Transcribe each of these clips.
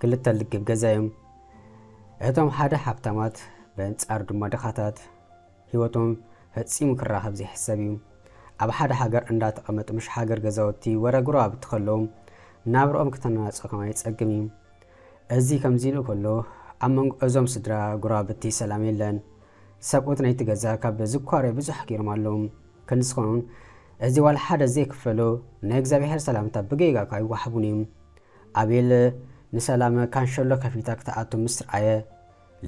ክልተ ልግብ ገዛ እዮም። እቶም ሓደ ሃብታማት በንጻሩ ድማ ድኻታት ሂወቶም ፈጺሙ ክራኸብ ዘይሕሰብ እዩ ኣብ ሓደ ሃገር እንዳ ተቀመጡ ምሽ ሃገር ገዛውቲ ወረ ጎረባብቲ ከለዉ ናብርኦም ክተናናጽ ከማይ ጸግም እዩ እዚ ከምዚ ኢሉ ከሎ ኣብ መንጎ እዞም ስድራ ጎረባብቲ ሰላም የለን ሰብኡት ናይቲ ገዛ ካብ ዝኳረ ብዙሕ ጌሮም ኣለዉ ክንዲ ዝኾኑን እዚ ዋላ ሓደ ዘይክፈሎ ናይ እግዚኣብሔር ሰላምታ ብጌጋ ኣይዋሓቡን እዩ ኣቤል ንሰላም ካንሸሎ ከፊታ ክትኣቱ ምስ ርኣየ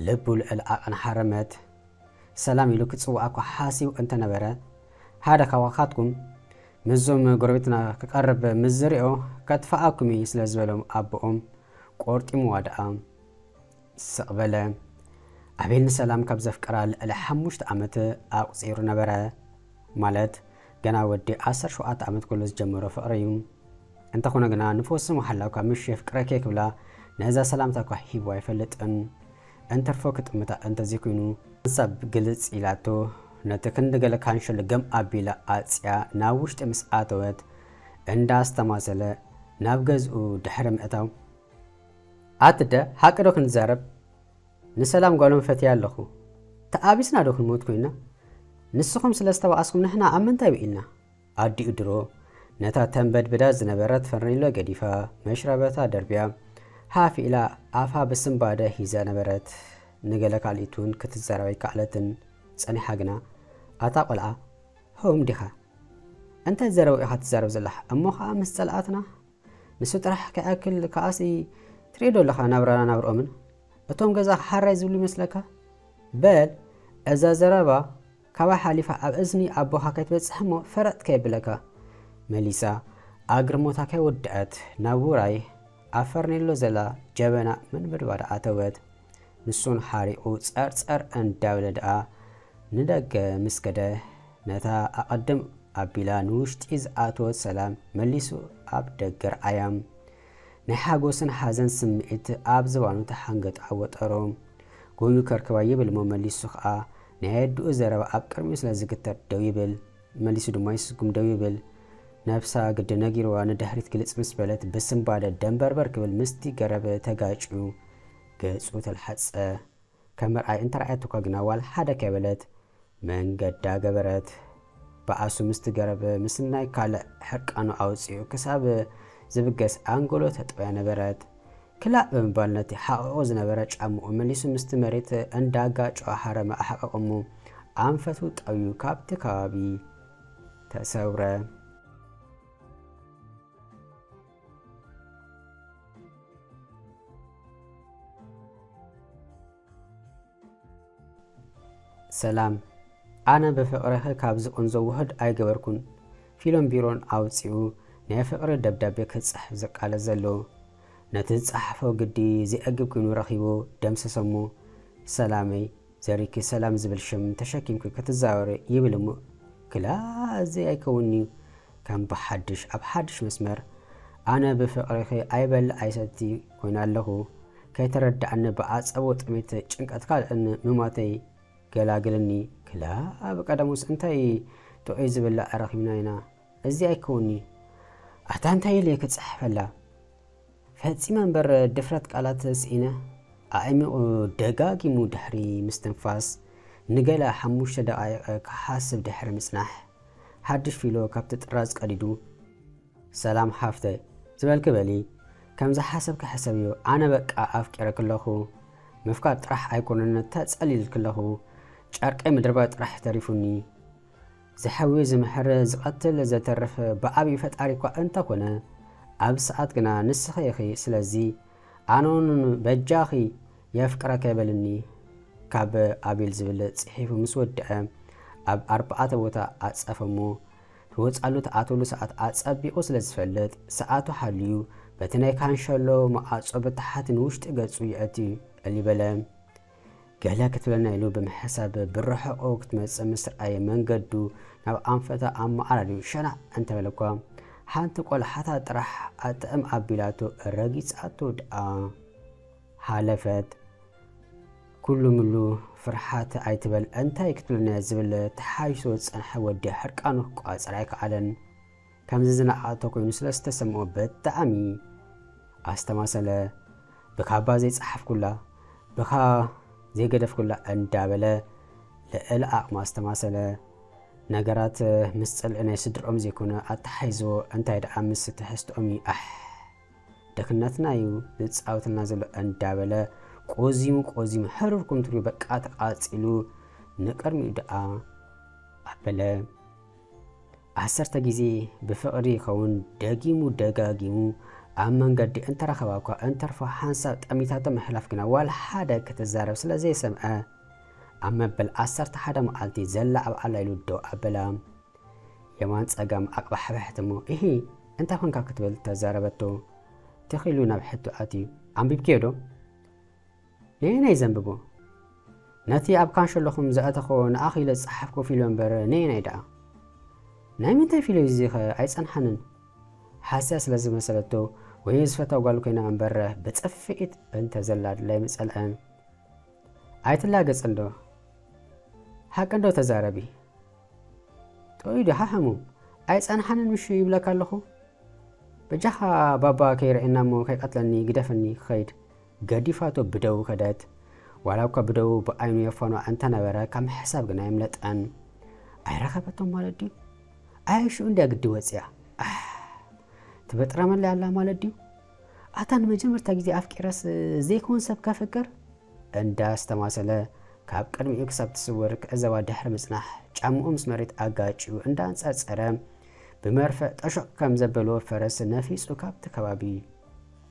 ልቡ ልዕል ኣቅን ሓረመት ሰላም ኢሉ ክጽውኣኳ ሓሲቡ እንተ ነበረ፣ ሓደ ካባካትኩም ምስዞም ጎረቤትና ክቀርብ ምስ ዝሪኦ ከጥፍኣኩም እዪ ስለ ዝበሎም ኣቦኦም ቆርጢምዋ ደኣ ስቅ በለ። ኣቤል ንሰላም ካብ ዘፍቀራ ልዕሊ ሓሙሽተ ኣመት ኣቁጺሩ ነበረ። ማለት ገና ወዲ ዓሰርተ ሸውዓተ ኣመት ከሎ ዝጀመሮ ፍቅሪ እዩ። እንተኾነ ግና ንፈሱ መሓላው ካብ ምሽ የፍቅረ ከይክብላ ነዛ ሰላምታ እኳ ሂቡ ኣይፈልጥን። እንትርፎ ክጥምታ እንተዘይኩይኑ። ሓንሳብ ግልጽ ኢላቶ ነቲ ክንዲ ገለ ካንሾ ልገም ኣቢላ ኣጽያ ናብ ውሽጢ ምስ ኣተወት እንዳ ኣስተማሰለ ናብ ገዝኡ ድሕሪ ምእታው። ኣትደ ሓቂ ዶ ክንዛረብ ንሰላም ጓሎም ፈትያ ኣለኹ ተኣቢስና ዶ ክንሞት ኮይና ንስኹም ስለ ዝተባኣስኩም ንሕና ኣብ ምንታይ ውዒልና። ኣዲኡ ድሮ ነታ ተንበድብዳ ዝነበረት ፈርኔሎ ገዲፋ፣ መሽረበታ ደርብያ፣ ሃፍ ኢላ ኣፋ ብስንባደ ሒዛ ነበረት። ንገለ ካልኢት'ውን ክትዛረብ ኣይከኣለትን። ጸኒሓ ግና፣ ኣታ ቈልዓ፣ ህቡም ዲኻ? እንታይ ዘረባ ኢኻ ትዛረብ ዘለኻ? እሞ ኸኣ ምስ ጸላኣትና? ንሱ ጥራሕ ከይኣክል ከኣ'ሲ ትርእዮዶ ኣለኻ ናብራና ናብርኦምን? እቶም ገዛኻ ሓራይ ዝብሉ ይመስለካ? በል እዛ ዘረባ ካብኣ ሓሊፋ ኣብ እዝኒ ኣቦኻ ከይትበጽሕ እሞ ፈረጥ ከየብለካ መሊሳ ኣግርሞታ ከይወደኣት ናብ ውራይ ኣብ ፈርኔሎ ዘላ ጀበና ምንብድባድ ኣተወት። ንሱን ሓሪቑ ጸርጸር እንዳበለ ደኣ ንደገ ምስ ከደ ነታ ኣቐድም ኣቢላ ንውሽጢ ዝኣተወት ሰላም መሊሱ ኣብ ደገ ረኣያ። ናይ ሓጎስን ሓዘን ስምዒት ኣብ ዝባኑ ተሓንገጥ ዓወጠሮ። ጎዩ ከርክባ ይብል'ሞ መሊሱ ከኣ ናይ ኣየድኡ ዘረባ ኣብ ቅድሚኡ ስለ ዝግተር ደው ይብል። መሊሱ ድማ ይስጉም ደው ይብል። ነብሳ ግዲ ነጊሩዋ ንድሕሪት ግልጽ ምስ በለት ብስንባደ ደንበርበር ክብል ምስቲ ገረብ ተጋጭዩ ገጹ ተላሕጸ። ከም ምርኣይ እንተ ረኣየቶኳ ግና ዋላ ሓደ ከይበለት መንገዳ ገበረት። በኣሱ ምስ ትገረብ ምስናይ ካልእ ሕርቃኑ ኣውጺኡ ክሳብ ዝብገስ ኣንጎሎ ተጥበያ ነበረት። ክላእ ብምባል ነቲ ሓቒቑ ዝነበረ ጫምኡ መሊሱ ምስቲ መሬት እንዳ ጋጨወ ሃረመ ኣሕቐቐ እሞ ኣንፈቱ ጠውዩ ካብቲ ከባቢ ተሰውረ። ሰላም ኣነ ብፍቅርኺ ካብ ዝቕንዞ ውህድ ኣይገበርኩን ፊሎም ቢሮን ኣውጺኡ ናይ ፍቅሪ ደብዳቤ ክጽሕፍ ዝቃለስ ዘሎ ነቲ ዝጸሓፎ ግዲ ዘየግብ ኮይኑ ረኺቡ ደምሰሰሞ ሰላመይ ዘሪኪ ሰላም ዝብል ሽም ተሸኪምኪ ክትዛወሪ ይብል እሞ ክላ እዚ ኣይከውንንዩ ከም ብሓድሽ ኣብ ሓድሽ መስመር ኣነ ብፍቅሪኪ ኣይበል ኣይሰቲ ኮይነ ኣለኩ ከይተረዳኣኒ ብኣጸቦ ጥሜት ጭንቀት ካልእን ምሟተይ ገላግልኒ ክላ ኣብ ቀደሙስ እንታይ ጥዑይ ዝብላዕ ረኪብና ኢና እዚ ኣይከውንንዩ ኣታ እንታይ ኢለ ክጽሕፈላ ፈጺመ እምበር ድፍረት ቃላት ስኢነ፣ ኣዒሚቑ ደጋጊሙ ድሕሪ ምስትንፋስ ንገለ ሓሙሽተ ደቓይቕ ክሓስብ ድሕሪ ምጽናሕ፣ ሓድሽ ፊሎ ካብቲ ጥራዝ ቀዲዱ፣ ሰላም ሓፍተይ ዝበልኪ በሊ፣ ከም ዝሓሰብኪ ሕሰብዮ፣ ኣነ በቃ ኣፍቂረኪ ኣለኹ፣ ምፍቃር ጥራሕ ኣይኮነን ተጸሊለልኪ ኣለኹ፣ ጨርቀይ ምድርባይ ጥራሕ እዩ ተሪፉኒ፣ ዝሐዊ ዝመሐረ ዝቀትል ዘተርፍ ብኣቢ ፈጣሪኳ እንተ ኮነ ኣብ ሰኣት ግና ንስኺ ኢኺ ስለዚ ኣነውን በጃኺ የፍቅረከ በልኒ ካብ ኣቤል ዝብል ጺሒፉ ምስ ወደዐ ኣብ ኣርባኣተ ቦታ ኣጸፈ እሞ ትወጻሉ ትኣትወሉ ሰኣት ኣጸቢቁ ስለ ዝፈልጥ ሰኣቱ ሓልዩ በቲ ናይ ካንሸሎ መኣጾ ብታሕት ንውሽጢ ገጹ የእቲ እሊ በለ ገለ ክትብለና ኢሉ ብምሕሳብ ብርሕቑ ክትመጽእ ምስ ረኣየ መንገዱ ናብ ኣንፈታ ኣመዓራርዩ ሸናዕ እንተበለ እኳ ሓንቲ ቆልሓታ ጥራሕ ኣጥዕም ኣቢላቶ ረጊጻቶ ደኣ ሓለፈት። ኩሉ ምሉ ፍርሓት ኣይትበል እንታይ ክትብለና ዝብል ተሓይሶ ዝጸንሐ ወዲ ሕርቃኑ ክቋጸር ኣይከኣለን። ከምዚ ዝነኣኣቶ ኮይኑ ስለ ዝተሰምኦ ብጣዕሚ ኣስተማሰለ ብካባ ዘይጸሓፍኩላ ብካ ዘይገደፍኩላ እንዳበለ ልዕሊ ዓቅሙ ኣስተማሰለ ነገራት ምስ ጽልዒ ናይ ስድርኦም ዘይኮነ ኣተሓሒዝዎ እንታይ ደኣ ምስ ትሕዝትኦም እዩ ኣሕ ድክነትና እዩ ዝጻወተልና ዘሎ እንዳበለ ቆዚሙ ቆዚሙ ሕርር ኩምትርኡ በቃ ተቃጺሉ ንቅድሚኡ ደኣ ኣበለ ዓሰርተ ግዜ ብፍቕሪ ይኸውን ደጊሙ ደጋጊሙ ኣብ መንገዲ እንተረኸባ'ኳ እንተርፎ ሓንሳብ ጠሚታቶ ምሕላፍ ግና ዋላ ሓደ ክትዛረብ ስለ ዘይሰምዐ ኣብ መበል ዓሰርተ ሓደ መዓልቲ ዘላዕብዓላ ኢሉ ደው ኣበላ። የማን ጸጋም ኣቕባሕበሐት'ሞ እሂ እንታይ ኰንካ ክትብል ተዛረበቶ። ተኺሉ ናብ ሕቶ ኣትዩ ኣንቢብክዮ'ዶ? ነየናይ ዘንብቦ ነቲ ኣብ ካንሸሎኹም ዝኣተኾ ንኣኽ ኢለ ዝጸሓፍኩ ፊሎ እምበር ነየናይ ደኣ ናይ ምንታይ ፊሎ እዩ እዚኸ ኣይጸንሓንን ሓስያ ስለ ዝመሰለቶ ወይ ዝፈታ ጓል ኮይና እምበር ብጽፍኢት በንተ ዘላ ድላይ ምጸልዐ ኣይትላገጽ እንዶ ሓቂ እንዶ ተዛረቢ ጥዑይ ዶ ሓሕሙ ኣይጸንሓንን ምሹ ይብለካ ኣለኹ በጃኻ ባባ ከይርኤና እሞ ከይቀትለኒ ግደፍኒ ክኸይድ ገዲፋቶ ብደዉ ከደት። ዋላ እኳ ብደዉ ብኣይኑ የፈኖ ኣንተነበረ ካብ ምሕሳብ ግን ኣየምለጠን። ኣይረኸበቶን ማለት ድዩ? ኣየ ሽዑ እንድያ ግዲ ወጺኣ ኣሕ ትበጥረመለይ ኣላ ማለት ድዩ? ኣታ ንመጀመርታ ግዜ ኣፍቂረስ ዘይከዉን ሰብ ከፍቅር? እንዳ ኣስተማሰለ ካብ ቅድሚኡ ክሳብ ትስወር ክዕዘባ ድሕሪ ምጽናሕ ጫምኡ ምስ መሬት ኣጋጭዩ እንዳ ኣንጸርጸረ ብመርፍዕ ጠሾቕ ከም ዘበሎ ፈረስ ነፊጹ ካብቲ ከባቢ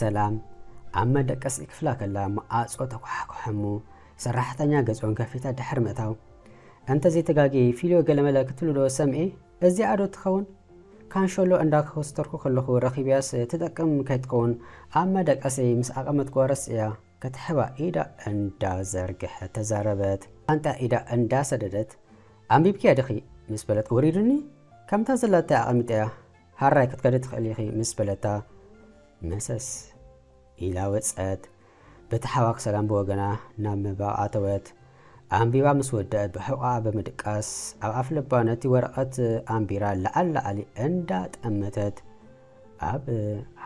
ሰላም ኣብ መደቀሲ ክፍላ ከላ መኣጾ ተኳሓኩሐ እሞ ሰራሕተኛ ገጾን ከፊታ ድሕሪ ምእታው እንተ ዘይተጋግየ ፊልዮ ገለመለ ክትብሉ ዶ ሰምዔ እዚኣ ዶ ትኸውን ካንሸሎ እንዳ ኮስተርኩ ከለኹ ረኺብያስ ትጠቅም ከይትከውን ኣብ መደቀሰይ ምስ ኣቐመጥኩዋ ረሲዕያ ክትሕባ ኢዳ እንዳ ዘርግሐት ተዛረበት ኣንጣ ኢዳ እንዳ ሰደደት ኣንቢብክያ ድኺ ምስ በለት ወሪዱኒ ከምታ ዘላታ ኣቐሚጠያ ሃራይ ክትከዲ ትኽእሊ ኢኺ ምስ በለታ መሰስ ኢላ ወጸት። በቲ ሓዋ ክሰላም ብወገና ናብ ምንባብ ኣተወት። ኣንቢባ ምስ ወደእት ብሕቖኣ ብምድቃስ ኣብ ኣፍልባ ነቲ ወረቐት ኣንቢራ ለዓል ለዓሊ እንዳ ጠመተት ኣብ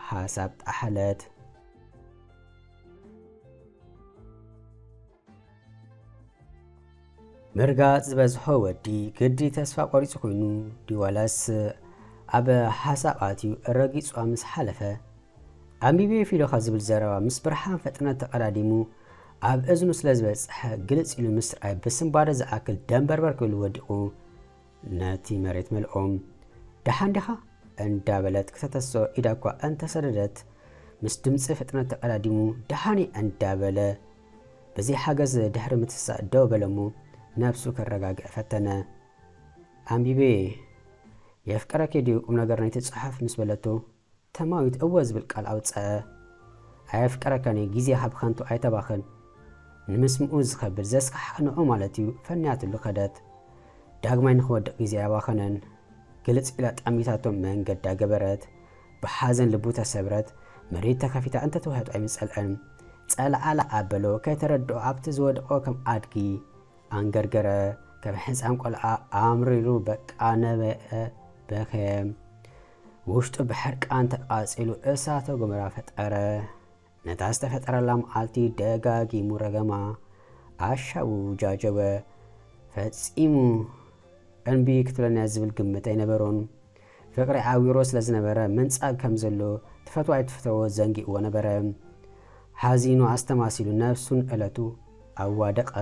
ሓሳብ ጠሓለት። ምርጋጽ ዝበዝሖ ወዲ ግዲ ተስፋ ቆሪጹ ኮይኑ ድዩ ዋላስ ኣብ ሓሳብ ኣትዩ ረጊጹዋ ምስ ሓለፈ ኣንቢበዮ ፊዶኻ ዝብል ዘረባ ምስ ብርሃን ፍጥነት ተቐዳዲሙ ኣብ እዝኑ ስለ ዝበጽሐ ግልጽ ኢሉ ምስርኣይ ብስንባደ ዝኣክል ደንበርበር ክብሉ ወዲቑ ነቲ መሬት መልኦም ደሓን ዲኻ እንዳበለት ክተተስኦ ኢዳ እኳ እንተሰደደት ምስ ድምጺ ፍጥነት ተቐዳዲሙ ደሓን እየ እንዳበለ በዚ ሓገዝ ድሕሪ ምትሳእ ደው በለ'ሞ ነብሱ ከረጋግእ ፈተነ። ኣንቢበ'የ የፍቅረኪ ድዩ ቁምነገር ናይቲ ጽሑፍ ምስ በለቶ ተማዊት እወ ዝብል ቃል ኣውጸኣ። ኣየፍቅረካን'የ ግዜ ካብ ከንቱ ኣይተባኽን ንምስምኡ ዝኸብድ ዘስካሕክሕ ንዑ ማለት'ዩ ፈንያትሉ ከደት። ዳግማይ ንኽወድቕ ግዜ ኣየባኸነን ግልጽ ኢላ ጠሚታቶ መንገዳ ገበረት። ብሓዘን ልቡ ተሰብረት መሬት ተከፊታ እንተ ትውሕጥ ኣይምጸልኣን ጸላኣላ ኣበሎ ከይተረድኦ ኣብቲ ዝወደቆ ከም ኣድጊ ኣንገርገረ ከም ሕጻን ቆልዓ ኣምሪሩ በቃ ነበየ በከየ ውሽጡ ብሕርቃን ተቃጺሉ እሳተ ጎመራ ፈጠረ ነታ ዝተፈጠረላ መዓልቲ ደጋጊሙ ረገማ፣ ኣሻቡ ጃጀወ፣ ፈጺሙ እንቢ ክትብለኒ'ያ ዝብል ግምት ኣይነበሮን። ፍቕሪ ዓዊርዎ ስለ ዝነበረ ምንጻግ ከም ዘሎ ትፈትዎ ኣይትፍተዎ ዘንጊዕዎ ነበረ። ሓዚኑ ኣስተማሲሉ ነብሱ ንእለቱ ኣዋደቐ።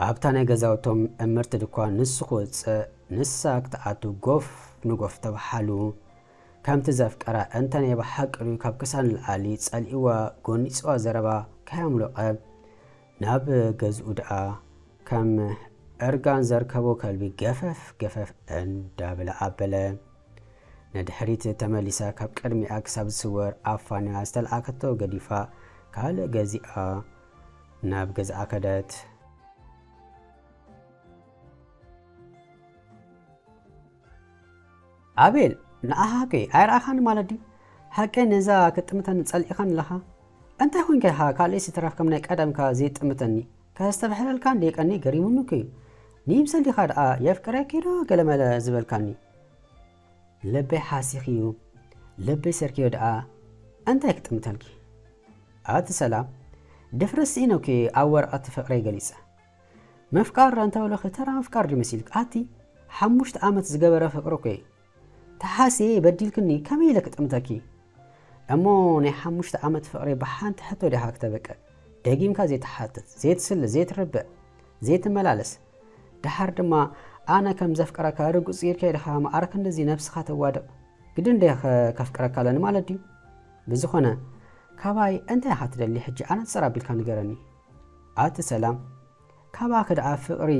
ኣብታ ናይ ገዛውቶም እምርቲ ድኳን ንሱ ክወጽእ ንሳ ክትኣቱ ጎፍ ንጎፍ ተባሓሉ። ከምቲ ዘፍቀራ እንተ ናይ ብሓቂ ድዩ ካብ ክሳ ንልዓሊ ጸሊእዋ ጎኒጽዋ ዘረባ ከያምሎቐ ናብ ገዝኡ ድኣ ከም እርጋን ዘርከቦ ከልቢ ገፈፍ ገፈፍ እንዳበለ ኣበለ። ንድሕሪት ተመሊሳ ካብ ቅድሚኣ ክሳብ ዝስወር ኣፋንያ ዝተልኣከቶ ገዲፋ ካልእ ገዚኣ ናብ ገዝኣ ከደት። ኣቤል ንዓኻ ሃቂ ኣይረኣኻን ማለት ድዩ? ሃቂ ነዛ ክጥምተኒ ጸሊእኻ ኣለኻ? እንታይ ኮንካ ኢኻ ካልእስ ይትረፍ ከም ናይ ቀደምካ ዘይጥምተኒ? ከስተብሕለልካ እንድየ ቀንየ ገሪሙኒ እኮ'ዩ። ንይምሰል ዲኻ ደኣ የፍቅረኪ'ዶ ገለመለ ዝበልካኒ? ልበይ ሓሲኽዩ ልበይ ሰርክዮ ድኣ እንታይ ክጥምተልኪ ኣቲ ሰላም ድፍረት ስኢነኪ ኣብ ወረቀት ፍቅረይ ገሊጸ ምፍቃር ኣንተበለኺ ተራ ምፍቃር ድዩ መሲልኪ ኣቲ ሓሙሽተ ኣመት ዝገበረ ፍቅሪ እኮዩ ተሓስየ በዲልክኒ ከመይ ኢለ ክጥምተኪ እሞ ናይ ሓሙሽተ ኣመት ፍቅሪ ብሓንቲ ሕቶ ዲኻ ክተበቅዕ ደጊምካ ዘይትሓትት ዘይትስለ ዘይትርብዕ ዘይትመላለስ ደሓር ድማ ኣነ ከም ዘፍቅረካ ርግጽ ጌርካ ኢልካ መዓረ ክንድዚ ነብስኻ ተዋድቕ። ግድን እንድየኸ ከፍቅረካ ኣለኒ ማለት ድዩ? ብዝኾነ ካባይ እንታይ ኢኻ ትደሊ ሕጂ ኣነጽር ኣቢልካ ንገረኒ። ኣቲ ሰላም ካባኺ ደኣ ፍቕሪ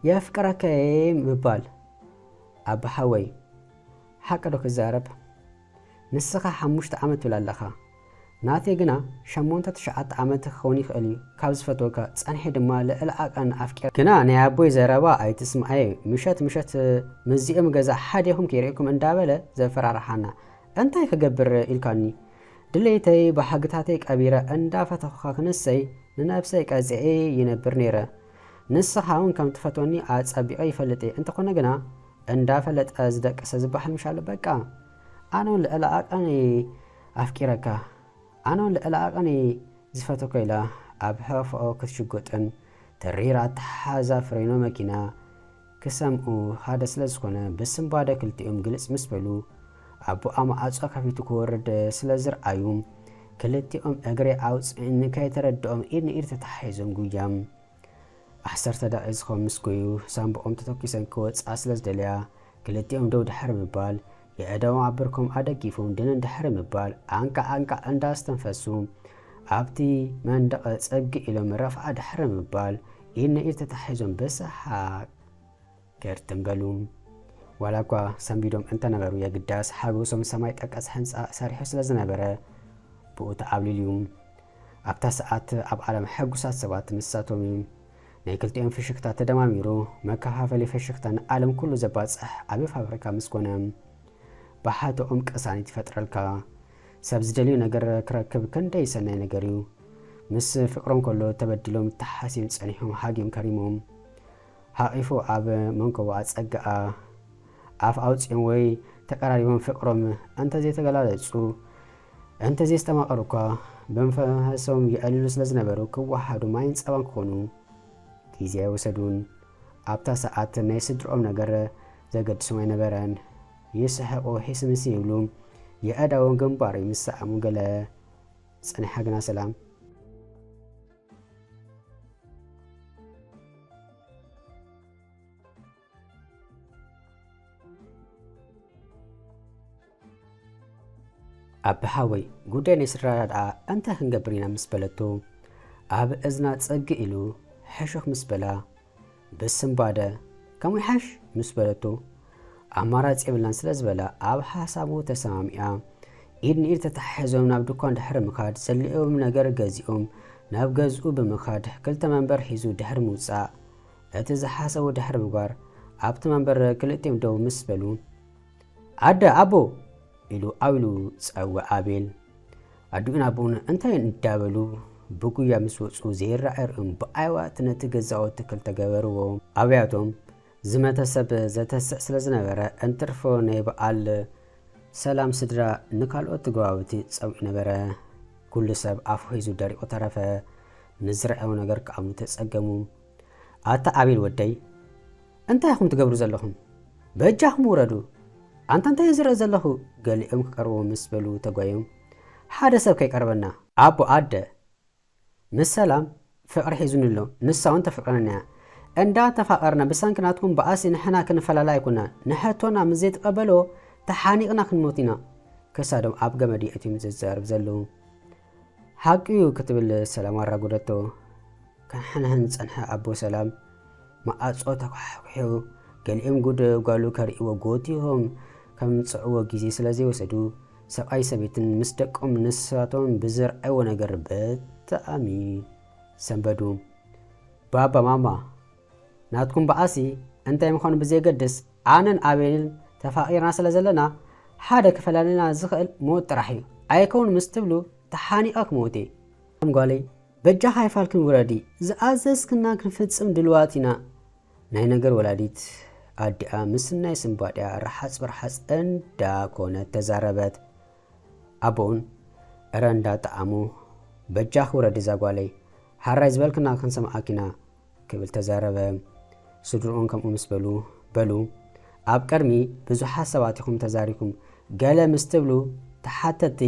የፍቅረካ'የ ምባል። ኣባ ሓወይ ሓቂ ዶ ክዛረብ? ንስኻ ሓሙሽተ ዓመት ትብል ኣለኻ ናተይ ግና ሸሞንተ ትሽዓተ ዓመት ክኸውን ይኽእል እዩ ካብ ዝፈትወካ ጸንሐ ድማ ልዕሊ ዓቀን ኣፍቂረ። ግና ናይ ኣቦይ ዘረባ ኣይትስምዓዮ ምሸት ምሸት ምስዚኦም ገዛ ሓዲኹም ክይርእየኩም እንዳበለ ዘፈራርሓና እንታይ ክገብር ኢልካኒ ድሌተይ ባህግታተይ ቀቢረ እንዳፈተኹኻ ክንሰይ ንነብሰይ ቀጺዔ ይነብር ነይረ ንስኻውን ከምትፈትወኒ ኣጸቢቐ ይፈልጥ'የ እንተኾነ ግና እንዳ ፈለጠ ዝደቀሰ ዝባሃል ምሽ ኣሎ በቃ ኣነውን ልዕሊ ዓቀን እየ ኣፍቂረካ ኣነውን ልዕሊ ዓቀን እየ ዝፈተኮ ኢላ ኣብ ሕቅፍኦ ክትሽጎጥን ተሪር ኣተሓሕዛ ፍሬኖ መኪና ክሰምኡ ሓደ ስለ ዝኮነ ብስንባደ ክልቲኦም ግልጽ ምስ በሉ ኣቡኣ ማዕጾ ከፊቱ ክወርድ ስለ ዝርኣዩ ክልቲኦም እግሪ ኣውጽእን ከይተረድኦም ኢድ ንኢድ ተታሓሒዞም ጉያ ዓሰርተ ደቒዝኮም ምስ ጎዩ ሳንቡቆም ተተኲሰን ክወጽኣ ስለ ዝደለያ ክልቲኦም ደው ድሕሪ ምባል የእዳዎም ኣብ ብርኮም ኣደጊፎም ድንን ድሕሪ ምባል ኣንቃዕ ኣንቃዕ እንዳ ኣስተንፈሱ ኣብቲ መንደቐ ጸግእ ኢሎም ረፍኣ ድሕሪ ምባል ኢድ ንኢድ ተታሒዞም ብሰሓቕ ገር ትም በሉ። ዋላ እኳ ሰንቢዶም እንተነበሩ የግዳስ ሓጎሶም ሰማይ ጠቀስ ሕንጻ ሰሪሑ ስለ ዝነበረ ብኡ ተዓብሊሉ እዩ። ኣብታ ሰዓት ኣብ ዓለም ሕጉሳት ሰባት ንሳቶም እዩ። ናይ ክልቲኦም ፍሽክታ ተደማሚሩ መከፋፈሊ ፍሽክታ ንዓለም ኩሉ ዘባጽሕ ዓቢ ፋብሪካ ምስ ኮነ ብሓተኦም ቅሳኒት ይፈጥረልካ። ሰብ ዝደልዮ ነገር ክረክብ ክንደይ ሰናይ ነገር እዩ። ምስ ፍቅሮም ከሎ ተበዲሎም ተሓስዮም ጸኒሖም ሃግዮም ከሪሞም። ሓቚፉ ኣብ መንኮቦኣ ጸግኣ። ኣፍ ኣውጺኦም ወይ ተቀራሪቦም ፍቅሮም እንተ ዘይተገላለጹ፣ እንተ ዘይስተማቀሩ እኳ፣ ብመንፈሶም የዕልሉ ስለ ዝነበሩ ክወሃሃዱ ማይን ጸባን ክኾኑ ግዜ ኣይወሰዱን። ኣብታ ሰዓት ናይ ስድርኦም ነገር ዘገድሶም ኣይነበረን። ይስሕቁ ሒስምስ ይብሉ፣ የእዳዎም ግንባሩ ይምሰኣሙ ገለ። ጸኒሓ ግና ሰላም። ኣቢ ሓወይ ጉዳይ ናይ ስድራ ዳድኣ እንታይ ክንገብር ኢና ምስ በለቶ ኣብ እዝና ጸግ ኢሉ ሕሹኽ ምስ በላ ብስንባደ ከምኡ ይሓሽ ምስ በለቶ ኣማራጺ የብላን ስለ ዝበላ ኣብ ሓሳቡ ተሰማሚኣ ኢድ ንኢድ ተተሓሒዞም ናብ ድኳን ድሕሪ ምኻድ ዘድልዮም ነገር ገዚኦም ናብ ገዝኡ ብምኻድ ክልተ መንበር ሒዙ ድሕሪ ምውጻእ እቲ ዝሓሰቡ ድሕሪ ምግባር ኣብቲ መንበር ክልቲኦም ደው ምስ በሉ ኣደ ኣቦ ኢሉ ኣውሉ ጸውዕ ኣቤል ኣዱኡን ኣቦኡን እንታይ እንዳበሉ ብጉያ ምስ ወጹ ዘይረኣይ ርእዮም ብኣየዋ እቲ ነቲ ገዛውቲ ክልተ ገበርዎ። ኣብያቶም ዝመተ ሰብ ዘተስእ ስለ ዝነበረ እንትርፎ ናይ በኣል ሰላም ስድራ ንካልኦት ገባውቲ ጸዊዑ ነበረ። ኩሉ ሰብ ኣፉ ሒዙ ደሪቁ ተረፈ። ንዝረኣዮ ነገር ክኣምኑ ተጸገሙ። ኣታ ኣቤል ወደይ እንታይ ኢኹም ትገብሩ ዘለኹም በጃኹም ውረዱ ኣንታ እንታይ ዝርኢ ዘለኹ ገሊኦም ክቀርብዎ ምስ በሉ ተጓዮም ሓደ ሰብ ከይቀርበና ኣቦ ኣደ ምስ ሰላም ፍቅሪ ሒዙኒ ኣሎ ንሳ ውን ተፍቅረኒ እያ እንዳ ተፋቀርና ብሰንኪ ናትኩም ባኣሲ ንሕና ክንፈላለ ኣይኮናን ንሕቶና ምስ ዘይትቀበልዎ ተሓኒቅና ክንሞት ኢና ክሳዶም ኣብ ገመድ የእትዮም ዘዛርብ ዘለዉ ሓቂዩ ክትብል ሰላም ኣራጎደቶ። ከሕንሕን ዝጸንሐ ኣቦ ሰላም መኣጾ ተኳሕኲሑ። ገሊኦም ጉድ ጓሉ ከርእይዎ ጎቲሆም ከምጽእዎ ግዜ ስለ ዘይወሰዱ፣ ሰብኣይ ሰበይትን ምስ ደቆም ንሳቶም ብዘርኣይዎ ነገር ብጣዕሚ ሰንበዱ። ባባ ማማ ናትኩም ባኣሲ እንታይ ምዃኑ ብዘየገድስ ኣነን ኣቤልን ተፋቂርና ስለ ዘለና ሓደ ክፈላልየና ዝኽእል ሞት ጥራሕ እዩ ኣይከውን ምስ ትብሉ ተሓኒቀ ክመውት እየ ከም ጓለይ በጃኺ ኣይፋልክን ውረዲ ዝኣዘዝክና ክንፍጽም ድልዋት ኢና ናይ ነገር ወላዲት ኣዲኣ ምስናይ ስንባዲኣ ርሓጽ ብርሓጽ እንዳ ኮነት ተዛረበት ኣቦኡን እረ እንዳ ጠዓሞ በጃኺ ውረዲ እዛ ጓለይ ሓራይ ዝበልክና ክንሰምዓኪ ኢና ክብል ተዛረበ። ስድርኡን ከምኡ ምስ በሉ፣ በሉ ኣብ ቅድሚ ብዙሓት ሰባት ኢኹም ተዛሪኩም ገለ ምስ ትብሉ ተሓተትቲ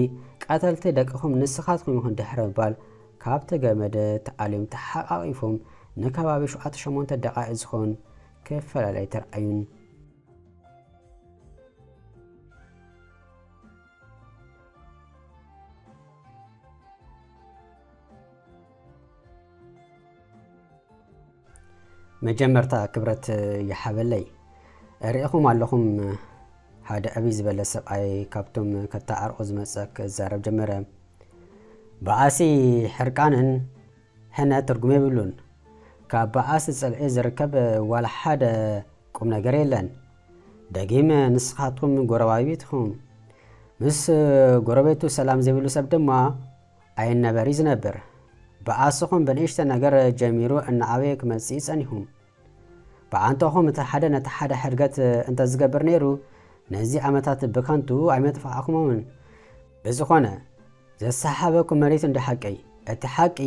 ቀተልቲ ደቅኹም ንስኻትኩም ኢኹም ድሕሪ ምባል ካብቲ ገመድ ተኣልዮም ተሓቛቒፎም ንከባቢ ሸውዓተ ሸሞንተ ደቓይቕ ዝኾን ክፈላለዩ ተርኣዩን። መጀመርታ ክብረት ይሓበለይ ርኢኹም ኣለኹም ሓደ ዕብይ ዝበለ ሰብኣይ ካብቶም ከተዓርቑ ዝመፀ ክዛረብ ጀመረ በኣሲ ሕርቃንን ሕነ ትርጉም የብሉን ካብ በኣሲ ፅልዒ ዝርከብ ዋላ ሓደ ቁም ነገር የለን ደጊመ ንስኻትኩም ጎረባቢት ኢኹም። ምስ ጎረቤቱ ሰላም ዘይብሉ ሰብ ድማ ኣይነበር እዩ ዝነብር። ብኣስኹም ብንእሽተ ነገር ጀሚሩ እናዓበየ ክመጽእ እዩ ጸኒሑ። ብኣንተኹም እቲ ሓደ ነቲ ሓደ ሕድገት እንተ ዝገብር ነይሩ ነዚ ዓመታት ብከንቱ ኣይመጥፋዕኩሞምን። ብዝኾነ ዘሰሓሓበኩም መሪት እንዶ ሓቀይ እቲ ሓቂ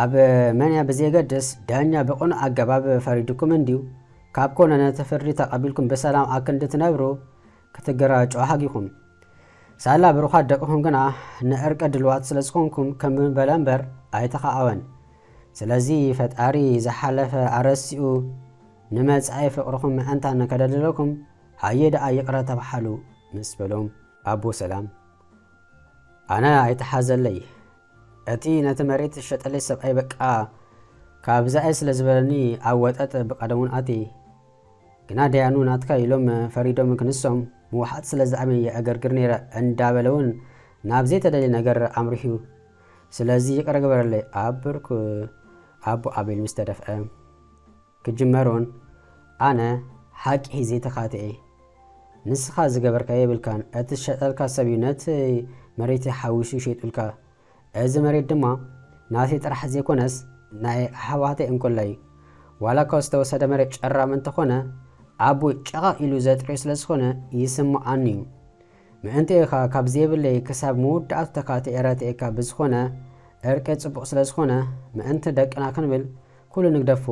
ኣብ መንያ ብዘየገድስ ዳኛ ብቅኑዕ ኣገባብ ፈሪዱኩም እንድዩ፣ ካብ ኮነ ነቲ ፍርዲ ተቀቢልኩም ብሰላም ኣክንዲ ትነብሩ ክትገራጩ ሃጊኹም። ሳላ ብሩኻት ደቅኹም ግና ንእርቂ ድልዋት ስለዝኾንኩም ከም በለ እምበር ኣይተኻኣወን። ስለዚ ፈጣሪ ዝሓለፈ ኣረሲኡ ንመጻኢ ፍቅርኹም መእንታን ከደልድለኩም ሃየ ደኣ ይቅረ ተባሓሉ ምስ በሎም ኣቦ ሰላም ኣነ ኣይተሓዘለይ። እቲ ነቲ መሬት ዝሸጠለይ ሰብኣይ በቃ ካብዛ'የ ስለ ዝበለኒ ኣብ ወጠጥ ብቀደሙን ኣትየ። ግና ደያኑ ናትካ ኢሎም ፈሪዶም ክንሶም ምውሓጥ ስለ ዝኣምን የዕገርግር ነይረ እንዳበለ'ውን ናብ ዘይተደልየ ነገር ኣምሪሑ'ዩ። ስለዚ ይቅረ ግበረለይ ኣብ ብርኩ ኣቡ ኣቤል ምስ ተደፍኣ። ክጅመሮን ኣነ ሓቂ ሒዜ ተካትዔ ንስካ ዝገበርካዮ የብልካን እቲ ዝሸጠልካ ሰብ እዩ ነቲ መሬተይ ሓዊሱ ሸይጡልካ እዚ መሬት ድማ ናተይ ጥራሕ ዘይኮነስ ናይ ኣሕዋተይ እንኮላይ እዩ ዋላ እኳ ዝተወሰደ መሬት ጨራም እንተኾነ ኣቦይ ጨቐቕ ኢሉ ዘጥርዮ ስለ ዝኾነ ይስምዓኒ እዩ ምእንቲ ኢኻ ካብ ዘይብለይ ክሳብ መወዳእቱ ተካትዔ ረትዔካ ብዝኾነ እርቂ ጽቡቕ ስለ ዝኾነ ምእንቲ ደቅና ክንብል ኩሉ ንግደፎ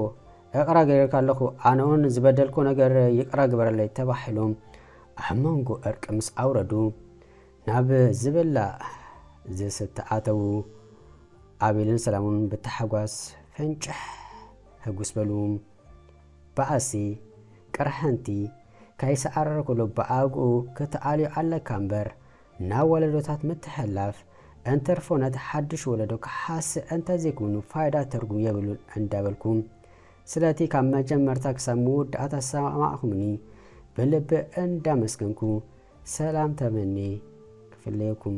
እቕራ ገይረልካ ኣለኹ ኣነውን ንዝበደልኩ ነገር ይቅራ ግበረለይ ተባሒሎም ኣብ መንጎ እርቂ ምስ ኣውረዱ ናብ ዝብላዕ ዝስተ ኣተዉ ኣቤልን ሰላሙን ብታሕጓስ ፈንጭሕ ህጉስ በሉ በኣሲ ቅርሕንቲ ከይሰዓረረ ኩሉ ብኣግኡ ክትኣልዮ ኣለካ እምበር ናብ ወለዶታት ምትሕልላፍ እንተርፎ ነቲ ሓዱሽ ወለዶ ክሓስእ እንተዘይኮይኑ ፋይዳ ትርጉም የብሉን እንዳበልኩ ስለቲ ካብ መጀመርታ ክሳብ መወዳእታ ዝሰማማዕኩምኒ ብልቢ እንዳመስገንኩ ሰላም ተመንየ ክፍለየኩም።